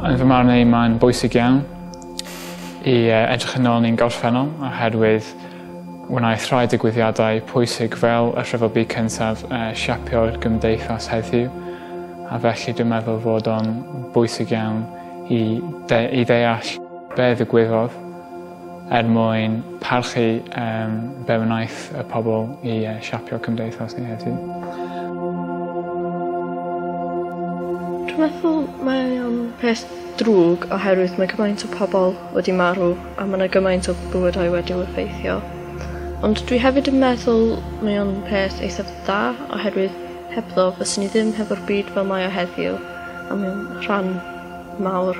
Yn fy marn i, mae'n bwysig iawn i edrych yn ôl ni'n gorffennol oherwydd wnaeth rhai digwyddiadau pwysig fel y Rhyfel Byd Cyntaf uh, siapio'r gymdeithas heddiw a felly dwi'n meddwl fod o'n bwysig iawn i, de i ddeall be ddigwyddodd er mwyn parchu um, be wnaeth y pobl i uh, siapio cymdeithas ni heddiw. Dwi'n meddwl mae o'n peth drwg oherwydd mae gymaint o pobl wedi marw a mae yna gymaint o bywydau wedi effeithio. Ond dwi hefyd yn meddwl mae o'n peth eithaf dda oherwydd hebddo fyswn i ddim hefo'r byd fel mae o heddiw a mae'n rhan mawr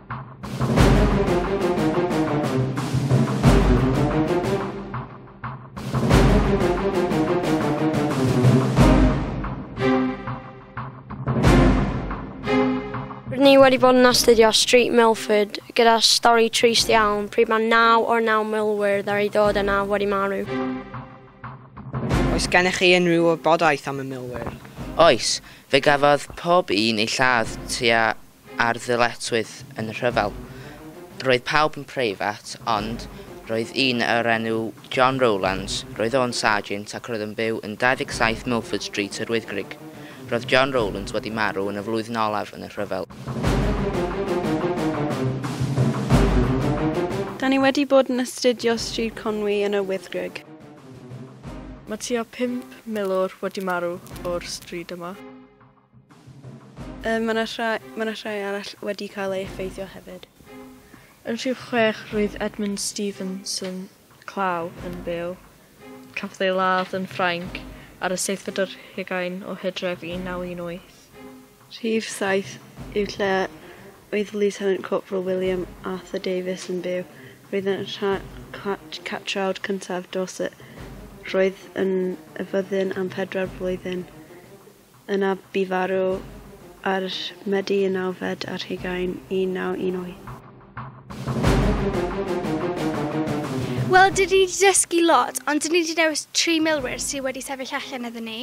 ni wedi bod yn astudio Street Milford gyda stori trist iawn pryd mae naw o'r naw milwyr ddar i ddod yna wedi marw. Oes gennych chi unrhyw wybodaeth am y milwyr? Oes, fe gafodd pob un ei lladd tua a'r ddyletswydd yn y rhyfel. Roedd pawb yn preifat, ond roedd un o'r enw John Rowlands, roedd o'n sarjint ac roedd yn byw yn 27 Milford Street, Yr Wyddgrug. Roedd John Rowlands wedi marw yn y flwyddyn olaf yn y rhyfel. Da ni wedi bod yn astudio Stryd Conwy yn Yr Wyddgrug. Mae tua pump milwr wedi marw o'r stryd yma. Mae yna rhai, mae yna rhai arall wedi cael ei effeithio hefyd. Yn rhyw chwech roedd Edmund Stevenson Clow yn byw. Cafodd ei ladd yn Ffrainc ar y seithfed ar hugain o Hydref 1918. Rhif saith yw lle oedd Lieutenant Corporal William Arthur Davies yn byw. Roedd yn rhan catrawd cyntaf Dorset. Roedd yn y fyddin am pedwar blwyddyn. Yna bu farw ar Medi y nawfed ar hugain 1918. Wel, dyn ni wedi dysgu lot, ond dyn ni wedi dewis tri milwyr sydd wedi sefyll allan iddyn ni.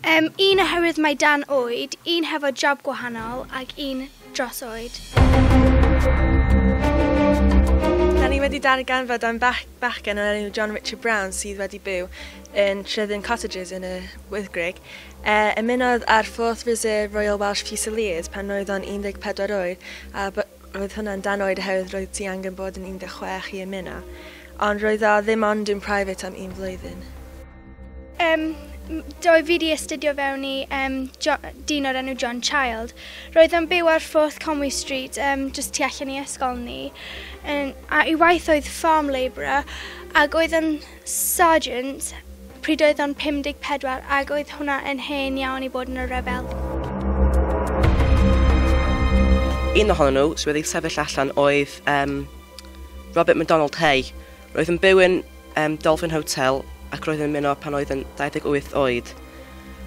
Yym, un oherwydd mai dan oed, un hefo job gwahanol, ac un dros oed. Da ni wedi darganfod am bach, bachgen o'r enw John Richard Brown sydd wedi byw yn Tryddyn Cottages yn y Wyddgrug. E, ymunodd â'r 4th Reserve Royal Welsh Fusiliers pan oedd o'n 14 oed a roedd hwnna'n dan oed oherwydd roedd ti angen bod yn 16 i ymuno. Ond roedd o ddim ond yn private am un flwyddyn. Um, do fi wedi astudio fewn i um, jo, dyn o'r enw John Child. Roedd yn byw ar Forth Conwy Street, um, just tu allan i ysgol ni. Um, a i waith oedd farm labourer ac oedd yn sergeant pryd oedd o'n 54 ac oedd hwnna yn hen iawn i bod yn y rhyfel. Un ohonyn nhw sydd wedi sefyll allan oedd um, Robert MacDonald Hay, Roedd yn byw yn um, Dolphin Hotel ac roedd yn ymuno pan oedd yn 28 oed.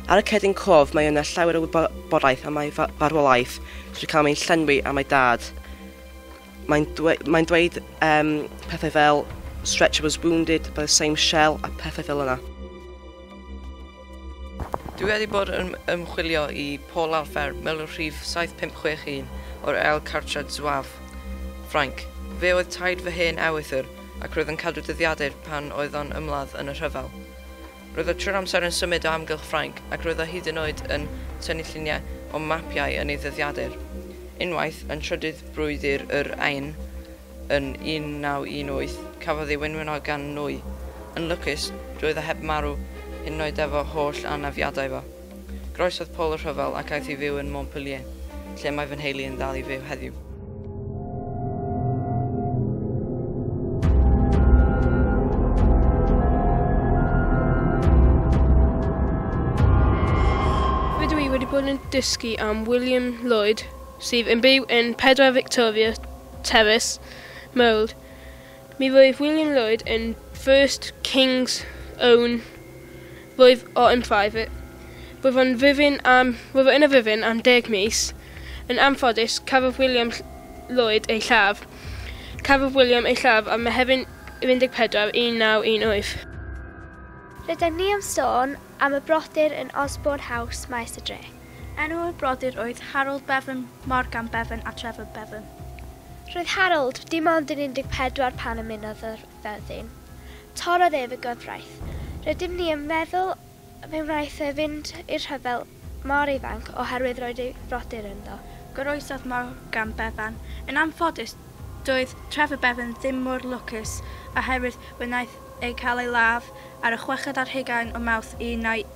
Ar y cedyn cof mae yna llawer o wybodaeth am ei farwolaeth drwy cael ein llenwi am ei dad. Mae'n dweud, mae dweud um, pethau fel Stretcher was wounded by the same shell a pethau fel yna. Dwi wedi bod yn ymchwilio i Paul Alpher, milwr rhif 7561 o'r Aile Cartrad Zouave, Ffrainc. Fe oedd taid fy hen ewythr ac roedd yn cadw dyddiadur pan oedd o'n ymladd yn y rhyfel. Roedd o trwy'r amser yn symud o amgylch Ffrainc ac roedd o hyd yn oed yn tynnu lluniau o mapiau yn ei ddyddiadur. Unwaith, yn trydydd brwydr yr Ain, Yn 1918, cafodd ei wenwyno gan nwy. Yn lwcus, roedd o heb marw, hyd yn oed efo holl anafiadau fo. Groesodd Paul y rhyfel ac aeth i fyw yn Montpellier, lle mae fy nheulu yn ddal i fyw heddiw. Rydw i wedi bod yn dysgu am William Lloyd, sydd yn byw yn 4 Victoria Tewys, Mold. Mi roedd William Lloyd yn first King's own roedd o yn private. Roedd o'n fyfyn am, roedd o yn y fyfyn am deg mis. Yn anffodus, cafodd William Lloyd ei lladd. Cafodd William ei lladd am Mehefin 14, 1918. Rydym ni am sôn am y brodyr yn Osborne House, Maes y Dre. Enw y brodyr oedd Harold Bevan, Morgan Bevan a Trevor Bevan. Roedd Harold dim ond yn 14 pan ymunodd â'r fyddin. Torrodd ef y gyfraith. Rydym ni yn meddwl fe wnaeth e fynd i'r rhyfel mor ifanc oherwydd roedd ei frodyr ynddo. Goroesodd Morgan Bevan. Yn anffodus, doedd Trevor Bevan ddim mor lwcus oherwydd fe wnaeth e cael ei ladd ar y chweched ar hugain o Mawrth 1914.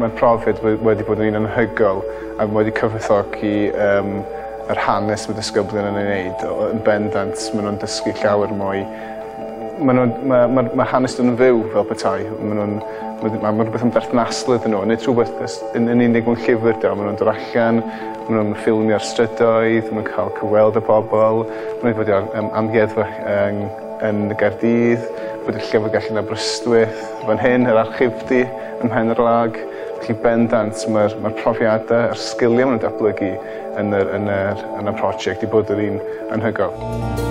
Mae'r profiad wedi bod yn un anhygoel ac wedi cyfoethogi um, yr hanes mae disgyblion yn ei wneud. Yn bendant, maen nhw'n dysgu llawer mwy. Mae, nhw, mae, mae, mae hanes nhw'n fyw fel petai. Maen nhw'n, mae, mae rhywbeth yn berthnasol iddyn nhw. Nid rhywbeth yn, yn unig mewn llyfr da. Maen nhw'n dod allan, maen nhw'n ffilmio'r strydoedd, maen nhw'n cael cyfweld y pobl, maen nhw'n bod ar um, amgueddfa um, yn y Gaerdydd, bod y Llyfrgell yn Aberystwyth, fan hyn yr Archifdy ym Mhen-yr-lag, felly bendant mae'r mae'r profiadau a'r sgiliau maen nhw'n datblygu yn yr yn yr yn y prosiect i bod yr un anhygoel.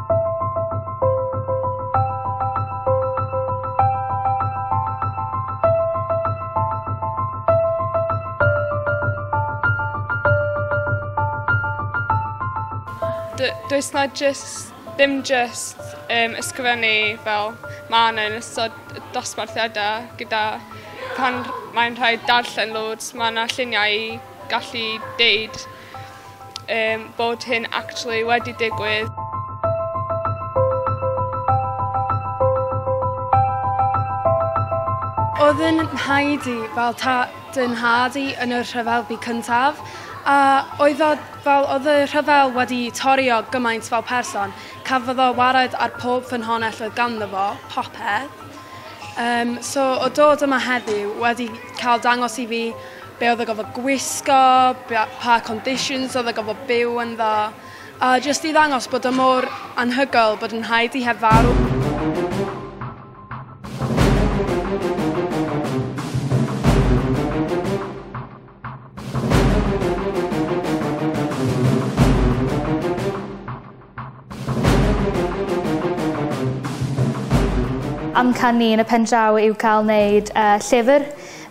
does na just, ddim just um, ysgrifennu fel mae yna yn ystod dosbarthiadau gyda pan mae'n rhaid darllen loads, mae yna lluniau i gallu deud yym bod hyn actually wedi digwydd. Oedd yn nhaid i fel ta dyn nhad i yn y rhyfel bu cyntaf a oedd o fel oedd y rhyfel wedi torri o gymaint fel person. Cafodd o wared ar pob ffynhonell oedd ganddo fo, popeth. Um, so o dod yma heddiw wedi cael dangos i fi be oedd o gofod gwisgo, pa conditions oedd o gofod byw yn dda, a jyst i ddangos bod o mor anhygoel bod yn rhaid i heb farw. Amcan ni yn y pen draw yw cael wneud uh, llyfr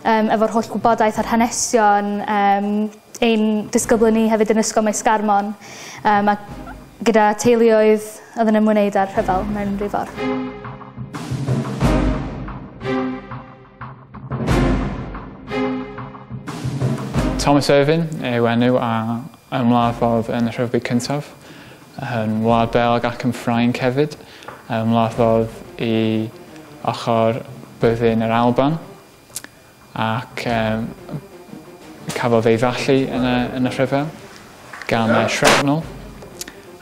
um, efo'r holl gwybodaeth a'r hanesion um, ein disgyblion ni hefyd yn ysgol Maes Garmon um, a gyda teuluoedd oedd yn ymwneud â'r rhyfel mewn rhyw ffordd. Thomas Irvin yw enw a Yn Wlad Fawr yn y Rhyfbyd Cyntaf, yn Wlad Belg ac yn Ffrainc hefyd, yn Wlad Fawr i ochr byddin yr Alban, ac um, cafodd ei fallu yn y, yn y rhyfel gan y shrapnel,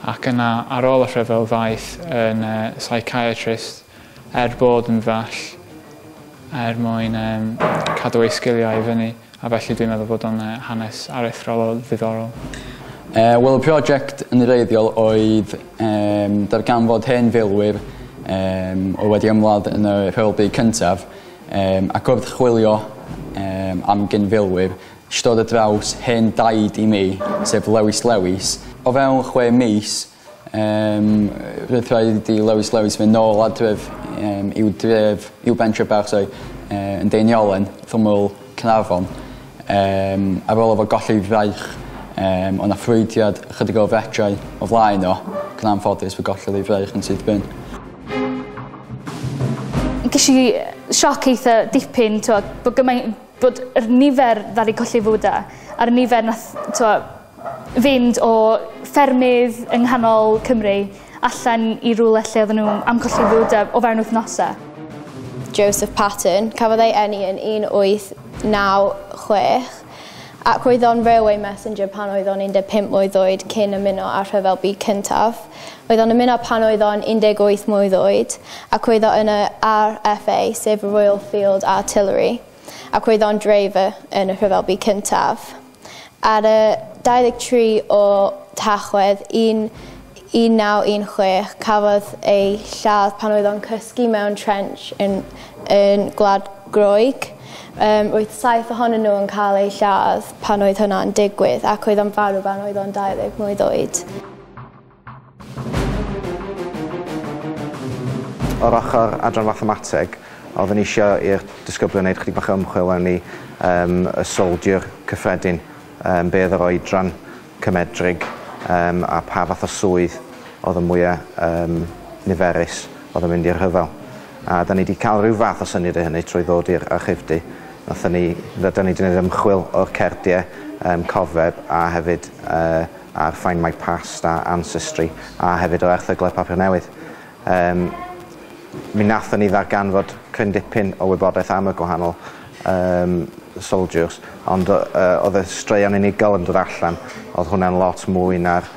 ac yna ar ôl y rhyfel ddaeth yn uh, psychiatrist Er bod yn well er mwyn cadw ei sgiliau i fyny a felly dwi'n meddwl bod o'n hanes aruthrol o ddiddorol. Yy wel y project yn wreiddiol oedd yym darganfod hen filwyr yym oedd wedi ymladd yn y Rhyfel Byd Cyntaf yym ac wrth chwilio yym am gyn-filwyr esh i dod ar draws hen daid i mi sef Lewis Lewis. O fewn chwe mis Yym roedd rhaid i Lewis Lewis fyn' nôl adref yym i'w dref i'w bentre bach sori yy yn Deiniolen rhwmwl Caernarfon yym ar ôl o fo golli'i fraich yym o' 'na ffrwydriad ychydig o fetrau o flaen o ac yn anffodus fe gollodd ei fraich yn syth bin. Gesh i sioc eitha dipyn t'wo' bo' gymain- bod yr nifer ddaru colli 'i fywyd e a'r nifer nath t'wo' fynd o ffermydd yng nghanol Cymru allan i rywle lle oedden nhw am colli fywydau o fewn wythnosau. Joseph Patten, cafodd ei eni yn 1896 ac oedd o'n railway messenger pan oedd o'n 15 mlwydd oed cyn ymuno â'r Rhyfel Byd Cyntaf. Oedd o'n ymuno pan oedd o'n 18 mlwydd oed ac oedd o yn y RFA, sef y Royal Field Artillery, ac oedd o'n dreifer yn y Rhyfel Byd Cyntaf. Ar y 23 o Tachwedd 1916 cafodd ei lladd pan oedd o'n cysgu mewn trench yn yn Gwlad Groeg. Yym roedd saith ohonyn nhw yn cael eu lladd pan oedd hwnna'n digwydd ac oedd o'n farw pan oedd o'n 20 mlwydd oed. O'r ochr adran Fathemateg, oeddwn i isio i'r disgyblion wneud chydig bach o ymchwil mewn i um, y soldier cyffredin, um, be oedd yr oedran cymedrig um, a pa fath o swydd oedd y mwyaf um, niferus oedd yn mynd i'r rhyfel. A da ni wedi cael rhyw fath o syniad o hynny trwy ddod i'r archifdy. Nathon ni, da ni wedi gwneud ymchwil o'r cerdiau um, cofeb a hefyd uh, ar Find My Past a Ancestry a hefyd o erthyglau papur newydd. Um, mi wnaethon ni ddarganfod cryn dipyn o wybodaeth am y gwahanol um, soldiers, ond uh, oedd y straeon unigol yn dod allan, oedd hwnna'n lot mwy na'r,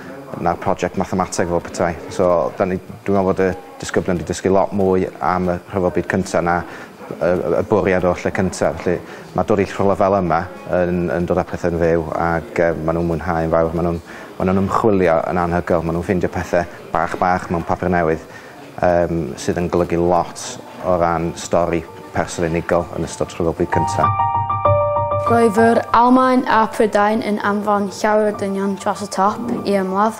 na prosiect mathemateg fel petai. So, da ni, dwi'n meddwl bod y disgyblion 'di dysgu lot mwy am y Rhyfel Byd Cynta' na y y y bwriad o'r lle cynta' felly ma' dod i rhywle fel yma yn yn dod â pethe'n fyw ag yy ma' nw'n mwynhau yn fawr ma' nw'n ma' nw'n ymchwilio yn anhygoel ma' nw'n ffeindio pethe bach bach mewn papur newydd yym sydd yn golygu lot o ran stori person unigol yn ystod Rhyfel Byd Cynta'. Roedd yr Almaen a Prydain yn anfon llawer o dynion dros y top i ymladd.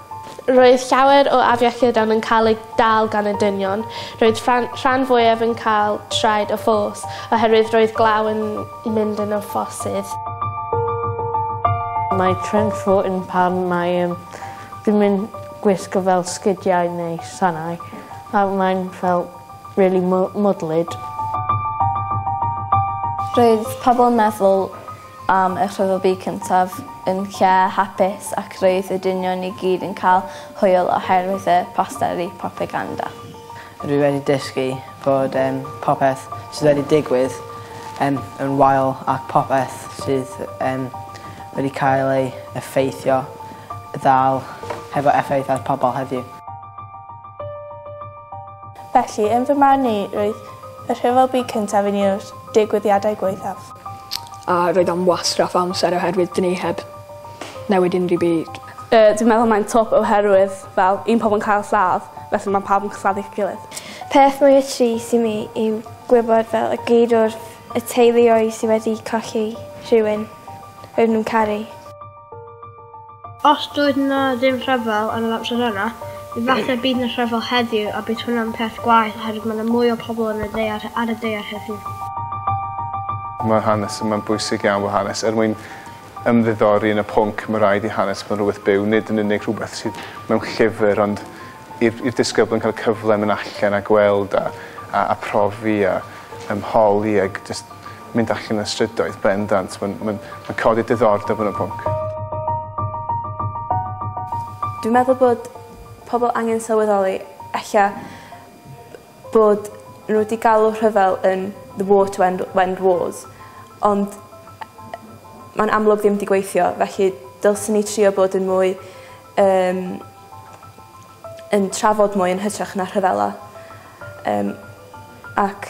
Roedd llawer o afiechydon yn cael eu dal gan y dynion. Roedd rhan rhan fwyaf yn cael traed o ffos oherwydd roedd glaw yn mynd yn y ffossydd. Mae trend fo yn pan mae yym ddim yn gwisgo fel sgidiau neu sanau a mae'n fel rili mw- mwdlyd. Roedd pobol yn meddwl am eich rhyfel cyntaf yn lle hapus ac roedd y dynion i gyd yn cael hwyl oherwydd y posteri propaganda. Rwy wedi dysgu bod um, popeth sydd wedi digwydd um, yn wael ac popeth sydd um, wedi cael ei effeithio ddal hefo effaith ar pobl heddiw. Felly, yn fy marn i, roedd y rhyfel byd cyntaf yn un o'r digwyddiadau gwaethaf. A roedd o'n wastraff o amser oherwydd dyn ni heb newid unrhyw byd. Yy dwi'n meddwl mae'n twp oherwydd fel un pobol yn cael lladd felly ma' pawb yn claddu 'i gilydd. Peth mwya trist i mi yw gwybod fel y geirwrf y teuluoedd sy wedi colli rhywun roedd nw'n caru. Os doedd 'na ddim rhyfel yn yr amser yna, efallai bydd 'na rhyfel heddiw a bydd hwnna'n peth gwaeth oherwydd mae 'na mwy o pobl yn y ddaear ar y ddaear heddiw. Mae'r hanes yma'n bwysig iawn fel hanes. Er mwyn ymddiddori yn y pwnc, mae rhaid i hanes fod yn rhywbeth byw, nid yn unig rhywbeth sydd mewn llyfr, ond i'r i'r disgyblion cael y cyfle mynd allan a gweld a a a profi a ymholi ag jyst Mynd allan y strydoedd, bendant. Mae'n mae'n mae'n codi diddordeb yn y pwnc. Dwi'n meddwl bod pobol angen sylweddoli ella bod n'w 'di galw rhyfel yn the war to end w- end wars ond yy ma'n amlwg ddim 'di gweithio felly dylswn ni trio bod yn mwy yym yn trafod mwy yn hytrach na rhyfela yym ac